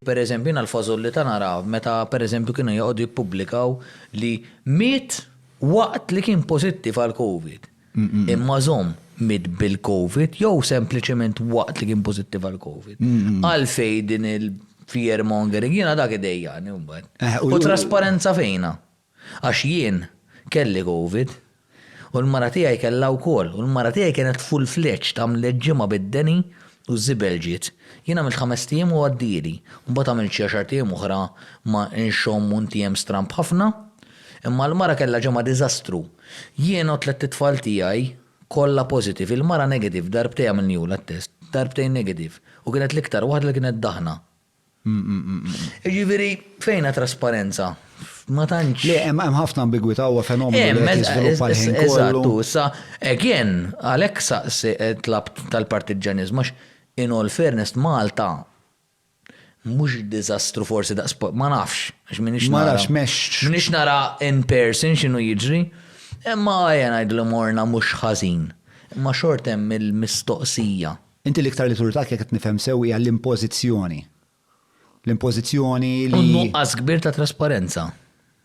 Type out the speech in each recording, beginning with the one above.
Per eżempju jiena l-fażollità nara meta per eżempju kienu joqogħdu jippubblikaw li miet waqt li kien pożittiv għall-Covid. Imma żomm, miet bil-Covid jew sempliċement waqt li kien pożittiv għall-Covid? Għalfejn din il-fear mongering? Jiena dak idejjaqni mbagħad. U trasparenza fejnha? Għax jien kelli covid u l-mara tiegħi kellha wkoll u l-mara tiegħi kienet full fledged għamlet ġimgħa bid-deni u ż-żibel ġiet. Jien għamilt ħamest ijiem u għaddieli. Mbagħad għamilt xi għaxart ijiem oħra ma' nxomm u ntiem stramb ħafna. Imma l-mara kellha ġimgħa diżastru. Jien u t-tlett itfal tiegħi kollha positive, il-mara negative darbtej għamilniehulha t-test, darbtejn negative u kienet l-iktar waħda li kienet daħna. Jiġifieri fejn ha trasparenza? Ma tantx. Le, hemm ħafna ambigwità huwa fenomenu li qed jiżviluppa l-ħin kollu. Eżatt, issa again għalhekk saqsi tlabt tal-partiġġaniżmu għax in all fairness Malta mhux diżastru forsi daqs ma nafx għax m'iniex nara. Ma nafx mexx. M'iniex nara in person x'inhu jiġri. Imma ejja ngħidlu morna mhux ħażin. Imma xort hemm il-mistoqsija. Inti l-iktar li turtak jekk qed nifhem sew hija l-impożizzjoni. L-impożizzjoni li. U nuqqas kbir ta' trasparenza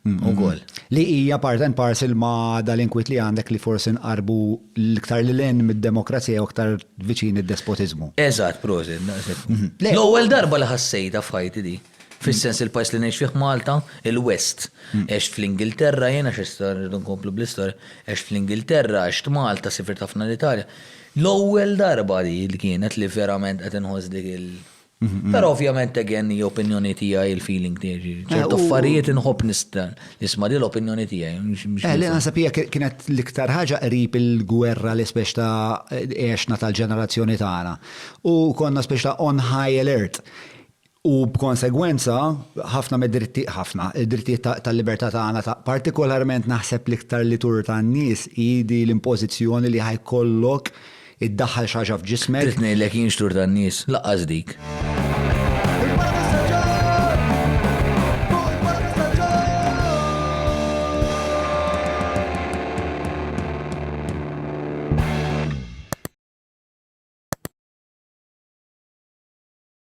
ukoll. Li hija part and parcel ma' dal-inkwiet li għandek li forsi nqarrbu l-iktar lil hinn mid-demokrazija jew iktar viċin id-despotiżmu. Eżatt, prosit, daqshekk. L-ewwel darba li ħassejtha f'ħajti di. Fis-sens il-pajjiż li ngħix fih Malta, il-West. Għext fl-Ingilterra jien għax issa rridu nkomplu bl-istorja. Għext fl-Ingilterra, għext Malta, sifirt ħafna l-Italja. L-ewwel darba di li kienet li verament qed inħoss dik il-. Però ovvjament again hija opinjoni tiegħi il-feeling tiegħi. Ċertu affarijiet inħobb nista' nisma' di l-opinjoni tiegħi. Li naħseb hija kienet l-iktar ħaġa qrib il-gwerra li spex ta' għexna tal-ġenerazzjoni tagħna. U konna spex ta' on high alert. U b'konsegwenza, ħafna mid-dritti, ħafna, id-drittijiet tal-libertà tagħna ta', partikolarment naħseb l-iktar li tur tan-nies hi di l-impożizzjoni li ħa jkollok iddaħħal xi ħaġa f'ġismek. Trid ngħidlek jien x'tur tan-nies? Laqqas dik.